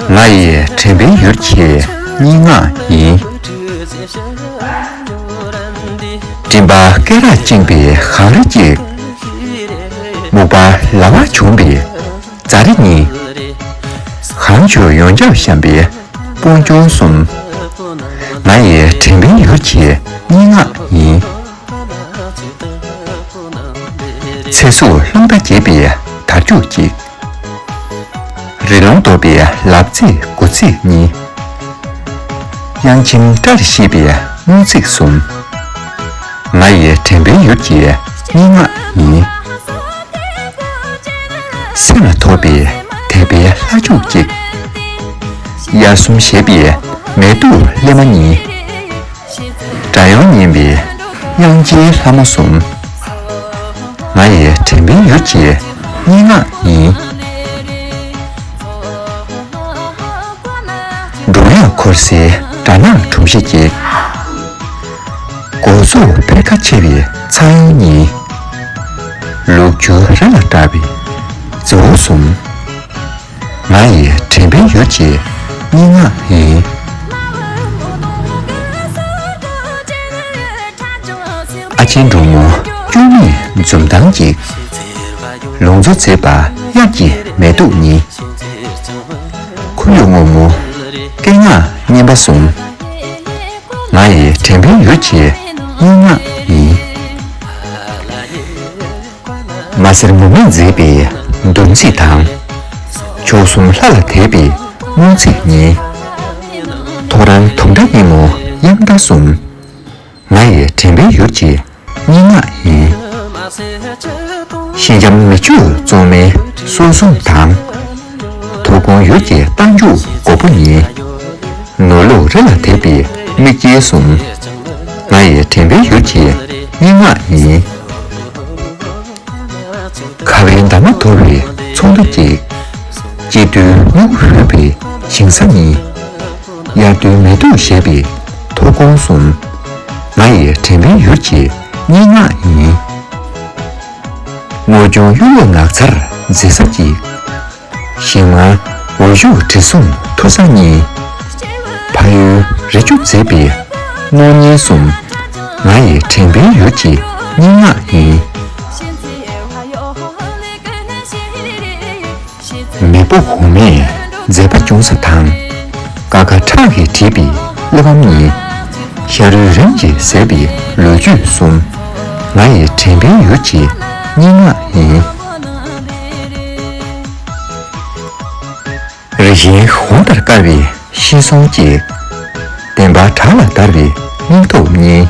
ང་ཡི་དྲན་པའི་ཡུལ་གྱི་སྙན་ངག་ཡིན། སྤྲིན་པ་སྐེ་རགས་བཅིངས་པའི་གངས་རི་གཅིག། སྨུག་པ་ལ་བར་བྱུང་པའི་རྫ་རི་གཉིས། གངས་ཆུ་ཡོངས་ཁྱབ་བཤམས་པའི་སྤུངས་ཆུང་གསུམ། ང་ཡི་དྲན་པའི་ཡུལ་གྱི་སྙན་ངག་ཡིན། ཚེ་གཟུགས་བློ་མཐའ་རྒྱས་པའི་དར་ཁྱུག་བཀྱིགས། རི་ལུང་རྡོ་པའི་ལབ་ཙེ་དགུ་ཚིགས་གཉིས། དབྱངས་ཁྱིམ་སྐྲ་རེ་ཤེས་པའི་སྨུག་ཚིགས་གསུམ། ང་ཡི་དྲན་པའི་ཡུལ་གྱི་སྙན་ངག་ཡིན། སེམས་ལ་ཐོབ་པའི་དད་པའི་ལྷ་ཁྱུག་བཀྱིགས། དབྱར་གསུམ་བཞད་པའི་མལ་དུ་སླེབས་མ་ཉིན། སྒྲ་དབྱངས་སྙན་པའི་དབྱངས་ཀྱི་ལྷ་མོ་གསུམ། ང་ཡི་དྲན་པའི་ཡུལ་གྱི་སྙན་ངག་ཡིན། འབྲུག་ལས་འཁོར་སའི་སྦྲ་ནག་གྲུམ་ཤིག་ཤིག། མགོ་གཟུགས་དཔེར་ཁ་ཆེ་བའི་ཚ་གཡུ་གཉིས། ལུག་ཁྱུ་རི་ལ་བཀྲ་བའི་རྫི་བོ་གསུམ། ང་ཡི་དྲན་པའི་ཡུལ་གྱི་སྙན་ངག་ཡིན། ཨ་ཆེན་འབྲུག་མོ་སྐྱོ་མེད་འཛུམ་མདངས་ཀྱིས། ལུང་མཛོད་མཛེས་པ་དབྱར་གྱི་མེ་ཏོག་ཉིད། ཁོར་ཡུག་སྔོན་མོ་སྐད་ངག་སྙན་པ་ཟུམ། ང་ཡི་དྲན་པའི་ཡུལ་གྱི་སྙན་ངག་ཡིན། མ་གསེར་མོ་མེས་མཛེས་པའི་འདུ་འཛིས་དང། མཆོག་གསུམ་ལྷ་ལ་དད་པའི་སྨོན་ཚིག་སྙན། ཐོ་རངས་དུང་སྒྲ་སྙན་མོ་དབྱངས་རྟ་གསུམ། ང་ཡི་དྲན་པའི་ཡུར་གྱི་སྙན་ངག་ཡིན། ཤིང་རྒྱམ་མི་ཆོས་བཙོང་མའི་སྲོལ་བཟུང་དང། དུ་གོང་ཡུལ་གྱི་རྟགས་འཇུག་མགོ་པོ་ནི། ནོར་ལུག་རི་ལ་དེད་པའི་མིག་དཀྱིལ་གསུམ། ང་ཡི་དྲན་པའི་ཡུལ་གྱི་སྙན་ངག་ཡིན། ཁ་བའི་འདབ་མ་དོར་བའི་ཚོགས་འདུ་བརྒྱད། སྐྱིད་རྡུལ་སྨྱུ་གུ་ཧུད་པའི་ཞིང་ས་གཉིས། དབྱར་རྡུལ་མེ་དུག་བཞད་པའི་མཐོ་གོང་གསུམ། ང་ཡི་དྲན་པའི་ཡུལ་གྱི་སྙན་ངག་ཡིན། སྔོ་སྐྱོང་གཡུ་ལོ་ནགས་ཚལ་མཛེས་ས་ཀྱི། ཞིང་མངའ་འོད་བཞུགས་དྲི་བསུང་མཐུ་བཟང་གཉིས། ཕ་ཡུལ་རི་ཆུ་མཛེས་པའི་སྣང་བརྙན་གསུམ། ང་ཡི་དྲན་པའི་ཡུལ་གྱི་སྙན་ངག་ཡིན། མེས་པོ་གོང་མས་མཛད་པ་ཅུང་ཟད་དང། དཀའ་ཁ་ཁྲག་གིས་བྲིས་པའི་གླེགས་བམ་གཉིས། ཤ་རུས་རིམ་གྱིས་ཟད་པའི་ལོ་རྒྱུས་གསུམ། ང་ཡི་དྲན་པའི་ཡུལ་གྱི་སྙན་ངག་ཡིན། རིགས་ཞེན་ཧུར་ཐག་དཀར་བའི་ཤེས་གསུམ་སྐྱེ། བདེན་པ་བྲག་ལ་བརྡར་བའི་སྙིང་སྟོབས་བརྙེས།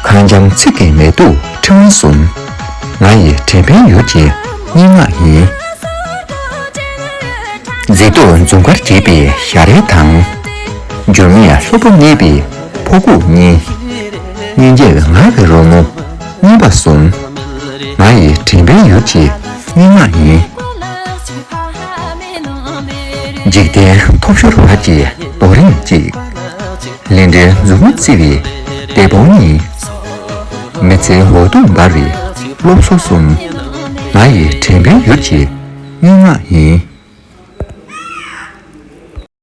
གངས་འཇམ་ཚིག་གི་མེ་དུ་ཕྲེང་བ་གསུམ། ང་ཡི་དྲན་པའི་ཡུལ་གྱི་སྙན་ངག་ཡིན། མཛེས་སྡུག་འཛུམ་དཀར་རྒྱས་པའི་ཞལ་རས་དང། འགྱུར་མེད་ལྷུག་པོ་གནས་པའི་ཕོ་ཁུག་གཉིས། སྙན་འཇེབས་ངང་གིས་རོལ་མོ་སྙན་པ་གསུམ། ང་ཡི་དྲན་པའི་ཡུལ་གྱི་སྙན་ངག་ཡིན། འཇིག་རྟེན་ཐོབ་ཤོར་བར་གྱི་རྡོ་རིང་གཅིག། ལིན་འདྲའི་མཛུབ་མོ་བཙིར་བའི་སྡེ་དཔོན་གཉིས། མི་ཚེའི་འོད་སྟོང་འབར་བའི་སློབ་གསོ་གསུམ། ང་ཡི་དྲན་པའི་ཡུལ་གྱི་སྙན་ངག་ཡིན།